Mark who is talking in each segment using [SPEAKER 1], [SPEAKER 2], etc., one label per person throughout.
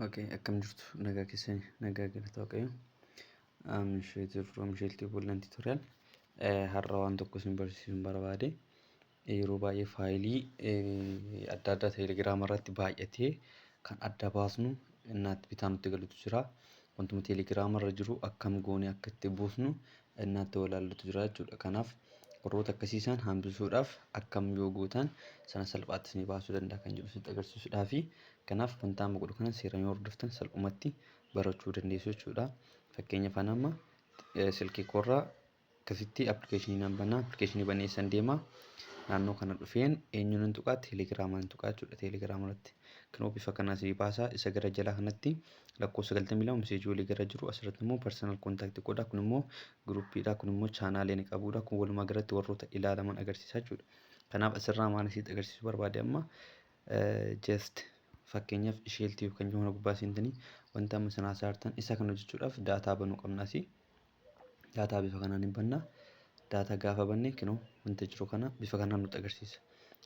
[SPEAKER 1] Ok akkam jirtu nagaa keessani nagaa galata waaqayyo I'm Sheetu from Sheeltii Bullan Tutorial Eh, har'a waan tokko isin barsiisuun barbaade Eh, yeroo baay'ee faayilii eh, adda addaa teelegiraama irratti baay'atee kan adda baasnu innaatti bitaa nutti galutu jira wantuma teelegiraama irra jiru akkam goone akka itti buusnu innaatti walaallutu jira jechuudha kanaaf warroota akkasiisaan hambisuudhaaf akkam yoo gootan sana salphaatti isinii baasuu danda'a kan jedhu sitti agarsiisuudhaa fi Kanaaf wanta amma godhu kana seeraan yoo hordoftan salphumatti barachuu dandeessu jechuudha. Fakkeenyaaf ani amma silkii koorraa akkasitti appilikeeshinii nan banaa appilikeeshinii banee eessan deemaa naannoo kana dhufeen eenyuun hin tuqaa teelegiraamaan hin tuqaa jechuudha teelegiraama irratti kanoo bifa kanaa sii baasaa isa gara jalaa kanatti lakkoo sagaltamii lama miseejii walii gara jiru asirratti immoo parsanal kontaaktii godhaa kun immoo giruuppiidhaa kun immoo chaanaalee ni qabuudha kun walumaa galatti warroota ilaalaman agarsiisaa jechuudha kanaaf asirraa maal isitti agarsiisuu barbaade amma Just fakkeenyaaf shell tube kan jiru kana gubbaa seentanii wanta amma isin haasaa jirtan isa kana hojjechuudhaaf daataa banuu qabna asii. Daataa bifa kanaan hin banna. Daataa gaafa banne kinoo wanta jiru kana bifa kanaan nutti agarsiisa.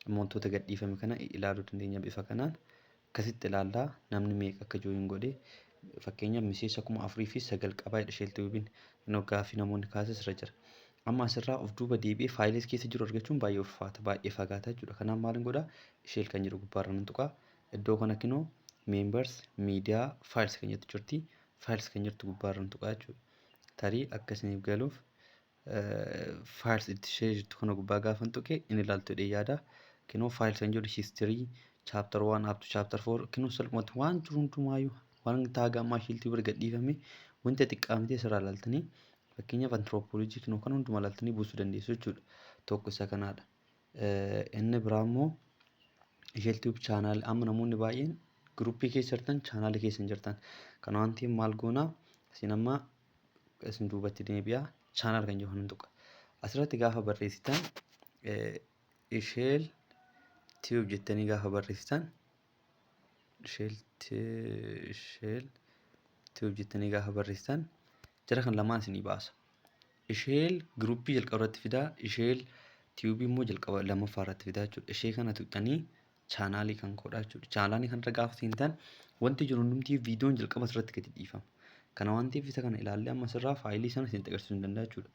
[SPEAKER 1] Amma wantoota gadhiifame kana ilaaluu dandeenya bifa kanaan. Akkasitti ilaallaa namni meeqa akka jooyin godhe fakkeenyaaf miseensa kuma afurii fi sagal qabaa jedha shell tube'n. Kinoo gaaffii namoonni kaasas irra jira. Amma asirraa of duuba deebi'ee files keessa jiru argachuun baay'ee ulfaata, baay'ee fagaata jechuudha. Kanaaf maalin godha? Shell kan jedhu gubbaarra nan tuqa. Iddoo kana kinoo members, media, files kan jettu jirti. Files kan jirtu gubbaarra nan tuqa jechuudha. Tarii akka isiniif galuuf files itti ishee jirtu kana gubbaa gaafan tuqe inni ilaaltu jedhee yaada. Kinoo files kan jedhu history, chapter 1 up to chapter 4 kinoo salphumatti waan jiru hundumaayyuu waan taaga ammaa shiiltii bira gadhiifame wanta xiqqaa miti asirraa ilaaltanii Fakkeenyaaf antirooppoolojii kinoo kana hundumaa ilaaltanii buusuu dandeessu jechuudha. Tokko isa kanaadha. Inni biraa immoo isheel tiyuub chaanaal amma namoonni baay'een giruuppii keessa jirtan chaanaala keessa hin jirtan. Kana waan ta'eef maal goonaa isin amma isin duubatti deebi'aa chaanaal kan jedhu hin tuqa. Asirratti gaafa barreessitan isheel tiyuub jettanii gaafa barreessitan shell t- shell tube jettanii gaafa barreessitan jara kan lamaan isinii baasa. Isheel giruuppii jalqaba irratti fidaa, isheel tiyuubii immoo jalqaba lammaffaa irratti fidaa jechuudha. Ishee kana tuqxanii chaanaalii kan koodhaa jechuudha. Chaanaalii kanarra gaafa seentan wanti jiru hundumtii viidiyoon jalqaba irratti gadi dhiifama. Kana waan ta'eef isa kana ilaallee amma sirraa faayilii sana isin agarsiisuu hin danda'a jechuudha.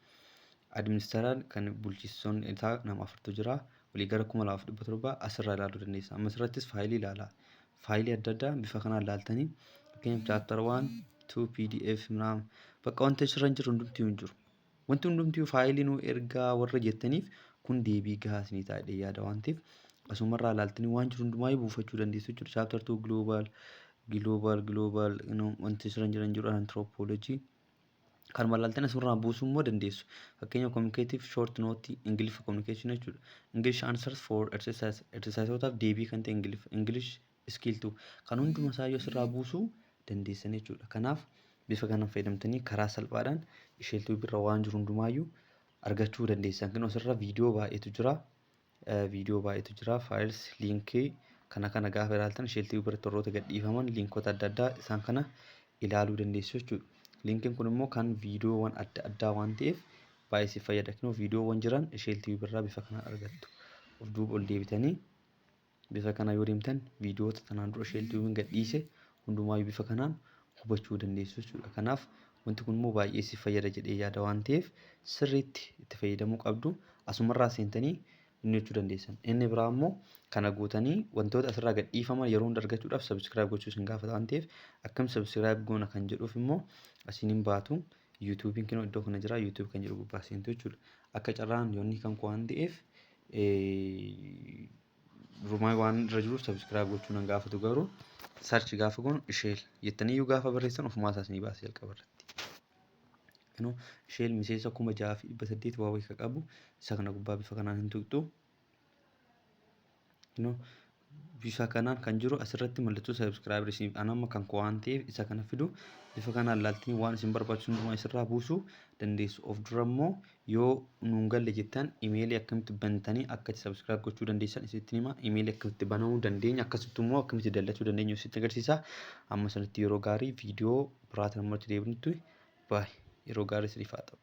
[SPEAKER 1] Administaraan kan bulchiisoon isaa nama afurtu jira. olii gara 2700 asirraa ilaaluu dandeessa. Amma asirrattis faayilii ilaala. Faayilii adda addaa bifa kanaan ilaaltanii fakkeenyaaf chapter 1, 2, pdf naam bakka wanti asirra hin jirre hundumtuu hin jiru. Wanti hundumtuu faayilii nuu ergaa warra jettaniif kun deebii gahaa isinii ta'a jedhee yaada waan ta'eef asumarraa ilaaltanii waan jiru hundumaa buufachuu dandeessu jechuudha. Chapter 2 global global global wanti asirra hin jiran jiru anthropology Kan wallaaltan asirraa buusuu immoo dandeessu. Fakkeenya communicative short note Ingiliffa communication jechuudha. English answers for exercise exercisootaaf deebii kan ta'e Ingiliffa. English skill 2 kan hunduma isaa yoo asirraa buusuu dandeessan jechuudha. Kanaaf bifa kanaan fayyadamtanii karaa salphaadhaan isheeltuu birra waan jiru hundumaayyuu argachuu dandeessan. Kan asirra viidiyoo baay'eetu jira. Viidiyoo baay'eetu jira. Files, link kana kana gaafa ilaaltan shell tv biratti warroota gadhiifaman linkota adda addaa isaan kana ilaaluu dandeessu jechuudha. Linkiin kun immoo kan viidiyoowwan adda addaa waan ta'eef baay'ee si fayyada. Kunoo viidiyoowwan jiran shell tv birraa bifa kanaan argattu. Of duuba ol deebitanii bifa kana yoo deemtan viidiyoota tanaan dura shell tv gadhiise Hundumaayyuu bifa kanaan hubachuu dandeessu jechuudha. Kanaaf wanti kun immoo baay'ee si fayyada jedhee yaada waan ta'eef sirriitti itti fayyadamuu qabdu. Asumarraa seentanii inni gochuu dandeessan. Inni biraa immoo kana gootanii wantoota asirraa gad dhiifaman yeroo hunda argachuudhaaf sabiskiraayib gochuu isin gaafata waan ta'eef akkam sabiskiraayib goona kan jedhuuf immoo asiin hin baatu. Yuutuubiin kinoo iddoo kana jira yuutuubii kan jedhu gubbaa seentu jechuudha. Akka carraan yoonni kan koo waan ta'eef Rumaa waan irra jiruuf subscribe gochuu nan gaafatu garuu search gaafa goonu isheel jettanii iyyuu gaafa barreessan ofumaa isaas ni baasa jalqaba irratti. Kanoo isheel miseensa kuma ja'a fi dhibba saddeet waa wayii ka qabu isa kana gubbaa bifa kanaan hin tuqxu. Kanoo bifa kanaan kan jiru asirratti mallattoo subscribe isiniif ana amma kan koo waan ta'eef isa kana fidu bifa kanaan laaltanii waan isin barbaachisu hundumaa isirraa buusuu dandeessu. Of dura immoo Yoo nuun galle jettan imeelii akkamitti bantanii akka itti subscribe gochuu dandeessan isinitti hima. Imeelii akkamitti banamuu dandeenya akkasittu immoo akkamitti dallachuu dandeenyu isinitti agarsiisa. Amma sanitti yeroo gaarii viidiyoo biraatiin ammoo itti deebinutti baay yeroo gaarii isiniif haa ta'u.